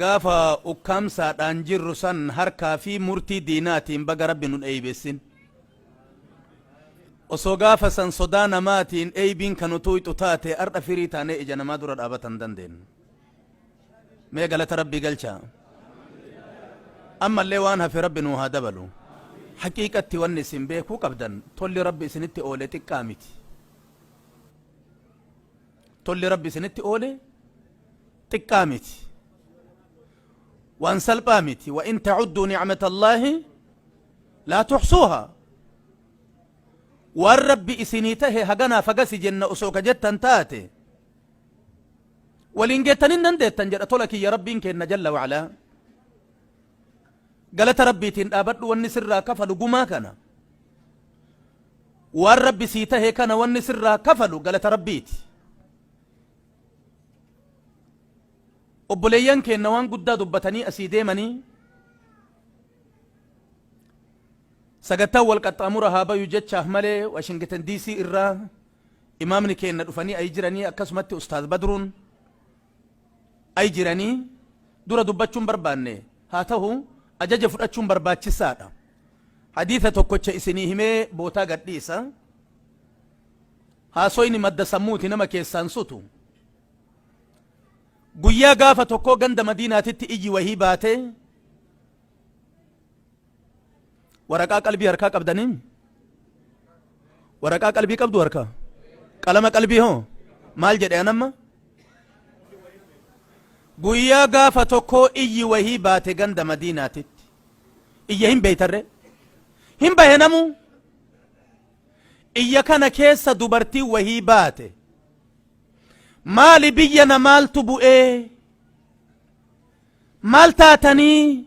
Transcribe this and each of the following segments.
Gaafa ukkaamsaadhaan jirru san harkaa fi murtii diinaatiin baga Rabbi nun eybessin. Osoo gaafa san sodaa namaatiin eybiin kan nu tuuyxu taate har'a firii taanee ija namaa dura dhaabata hin dandeennu. Mee galata Rabbii galchaa. Ammallee waan hafe Rabbi nuu haa dabalu. Haqiiqatti wanni isin beekuu qabdan tolli Rabbi isinitti oole xiqqaa miti. Tolli Rabbi isinitti oole xiqqaa miti. Waan salphaa miti. Wa in ta'udduu ni'matallaahi laa tuxsuuha. Waan Rabbi isinii tahe haganaa fagasi jenna osoo ka jettan taate. Waliin geettan hin dandeettan jedha tola kiyya Rabbiin keenna jalla wa'alaa. Galata Rabbiitiin dhaabadhu wanni sirraa kafalu gumaa kana. Waan Rabbi sii tahe kana wanni sirraa kafalu galata Rabbiiti. Obboleeyyan keenna waan guddaa dubbatanii asii deemanii sagattaan wal qaxxaamura haa bayu jechaaf malee Washington DC irraa imaamni keenna dhufanii ayi jiranii akkasumatti Ustaaz Badruun ai jiranii dura dubbachuu hin barbaanne, haa tahu ajaja fudhachuun barbaachissaa dha. Hadiisa tokkocha isinii himee bootaa gad dhiisa. Haasoyni madda sammuuti nama keessaa hin sutu. Guyyaa gaafa tokkoo ganda Madiinaatitti iyyi wahii baate. Waraqaa qalbii harkaa qabdanii? Waraqaa qalbii qabdu harkaa? Qalama qalbii hoo? Maal jedhe anamma? Guyyaa gaafa tokkoo iyyi wahii baate ganda madiinaatitti. Iyya hin beeytarre? Hin bahe namuu? Iyya kana keessa dubartii wahii baate. Maali biyya na maaltu bu'ee? Maal taatanii?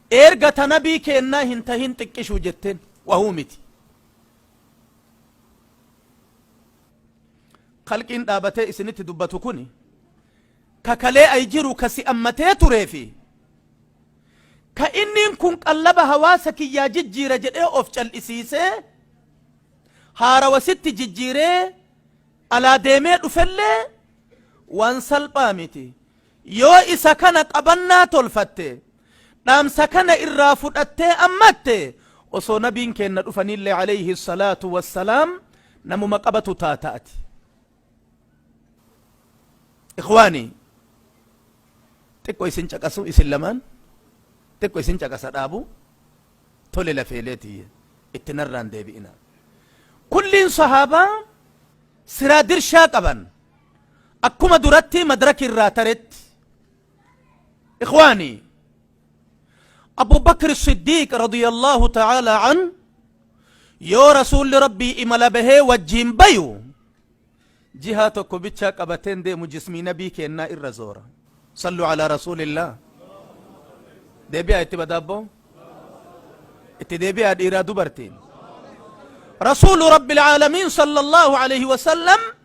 Eerga ta nabii keennaa hin tahin xiqqishu jetten wahuu miti. Khalqiin dhaabatee isinitti dubbatu kuni ka kalee ay jiru ka si ammatee turee fi ka inniin kun qallaba hawaasa kiyyaa jijjiira jedhee of cal'isiisee haarawa sitti jijjiiree alaa deemee dhufellee waan salphaa miti. Yoo isa kana qabannaa tolfatte, dhaamsa kana irraa fudhattee ammatte, osoo nabiin keenna dhufaniillee aleyhi salaatu wassalaam namuma qabatu taata ati. Ikhwaani, xiqqo isin caqasu isin lamaan, xiqqo isin caqasa dhaabu, tole lafeelee tiyya, itti narraan deebi'ina. Kulliin sahaabaa siraa dirshaa qaban, Akkuma durattii madraki irraa taretti ikhwaani Abu Bakr Siddiiq radiyallahu ta'ala an yoo rasuulli rabbii imala bahee wajjiin bayu jihaa tokko bichaa qabateen deemu jismii nabii keennaa irra zoora sallu ala rasuulillah deebi'aa itti badaabbo itti deebi'aa dhiiraa dubartiin rasuulu rabbil aalamiin sallallahu alayhi wasallam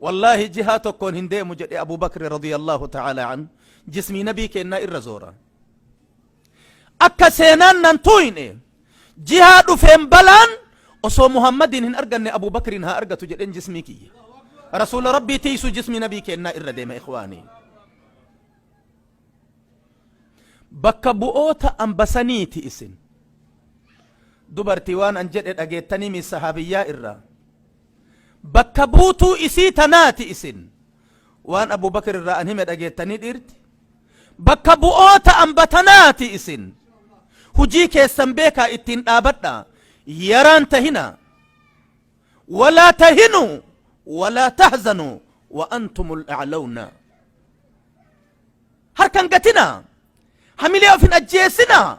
Wallaahi jihaa tokkoon hin deemu jedhe Abuu Bakri radiyallaahu ta'aalaa anhu jismii nabii keennaa irra zoora. Akka seenaan nan tuuyne jihaa dhufeen balaan osoo Muhammadiin hin arganne Abuu Bakriin haa argatu jedheen jismii kiyya. Rasuula Rabbii tiisu jismii nabii keennaa irra deema ikhwaanii. Bakka bu'oota ambasaniiti isin. Dubartii waan an jedhe dhageettanii mi sahaabiyyaa irraa. Bakka buutuu isii tanaati isin. Waan Abuu Bakr irraa an hime dhageettanii dhiirti? Bakka bu'oota amba tanaati isin. Hujii keessan beekaa ittiin dhaabadha. Yaraan tahina. Walaa tahinu. Walaa tahzanu. Wa antumul a'lawna. Harkan gatina. Hamilee of hin ajjeesina.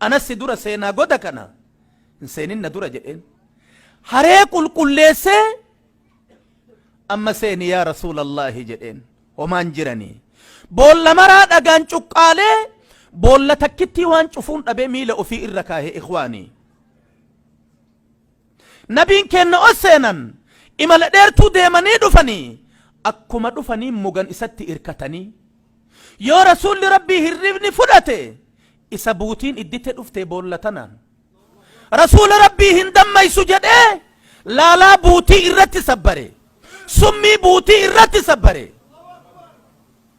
Anas si dura seenaa goda kana hin seenin na dura jedheen. Haree qulqulleessee amma seeni yaa rasuulallaahi jedheen homaan jiranii. Boolla maraa dhagaan cuqqaalee boolla takkittii waan cufuun dhabee miila ofii irra kaahee ikwaanii. Nabiin keenna os seenan imala dheertuu deemanii dhufanii akkuma dhufanii mugan isatti irkatanii Yoo Rasuulli Rabbii hirribni fudhate isa buutiin iddite dhufte boolla tanaan. Rasuula Rabbii hin dammaysu jedhee laalaa buutii irratti sabbare. Summii buutii irratti sabbare.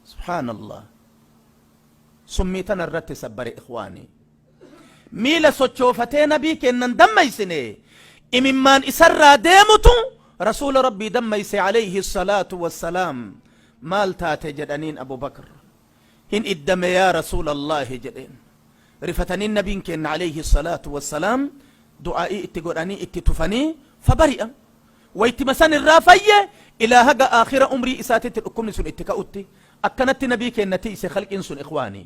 Subhaanallah. Summii tana irratti sabbare ikhwaanii. Miila sochoofatee nabii keennan dammaysine imimmaan isarraa deemutu rasuula rabbii dammayse aleyhi salaatu wassalaam maal taate jedhaniin abubakr hin iddame yaa rasuula allaahi jedheen rifatanii nabiin keenna aleyhi salaatu wassalaam du'aa'ii itti godhanii itti tufanii fabari'a waytima san irraa fayye ilaa haga aakhira umrii isaatitti dhukkubni sun itti ka'utti akkanatti nabii keenna tiyse khalqiin sun ikwaanii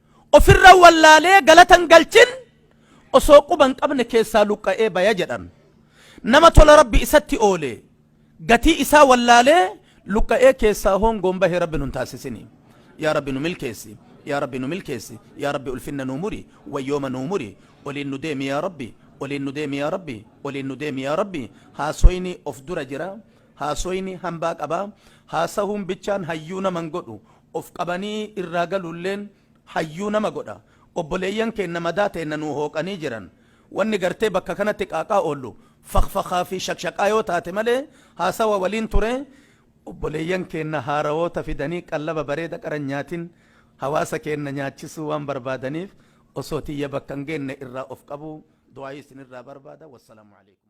Ofirra wallaalee galata hin galchin osoo quba hin qabne keessaa luqqa'ee baya jedhan. Nama tola Rabbi isatti oole gatii isaa wallaalee luqqa'ee keessaa hoongoon bahe Rabbi nun taasisini. Yaa Rabbi nu milkeessi. Yaa Rabbi nu milkeessi. Yaa Rabbi ulfinna nuu muri. Wayyooma nuu muri. Oliin nu deemi yaa Rabbi. Oliin nu deemi yaa Rabbi. Oliin nu deemi yaa Rabbi. Haasoyni of dura jira. Haasoyni hambaa qaba. Haasahuun bichaan hayyuu nama hin godhu. Of qabanii irraa galuulleen hayyuu nama godha. Obboleeyyan keenna madaa teenna nuu hooqanii jiran. Wanni gartee bakka kanatti qaaqaa oollu fakfakhaa fi shakshaqaa yoo taate malee haasawa waliin ture. Obboleeyyan keenna haarawoota fidanii qallaba bareeda qaranyaatin hawaasa keenna nyaachisuu waan barbaadaniif osoo tiyya bakka hin geenne irraa of qabuu du'aayii isinirraa barbaada. Wassalamu aleykum.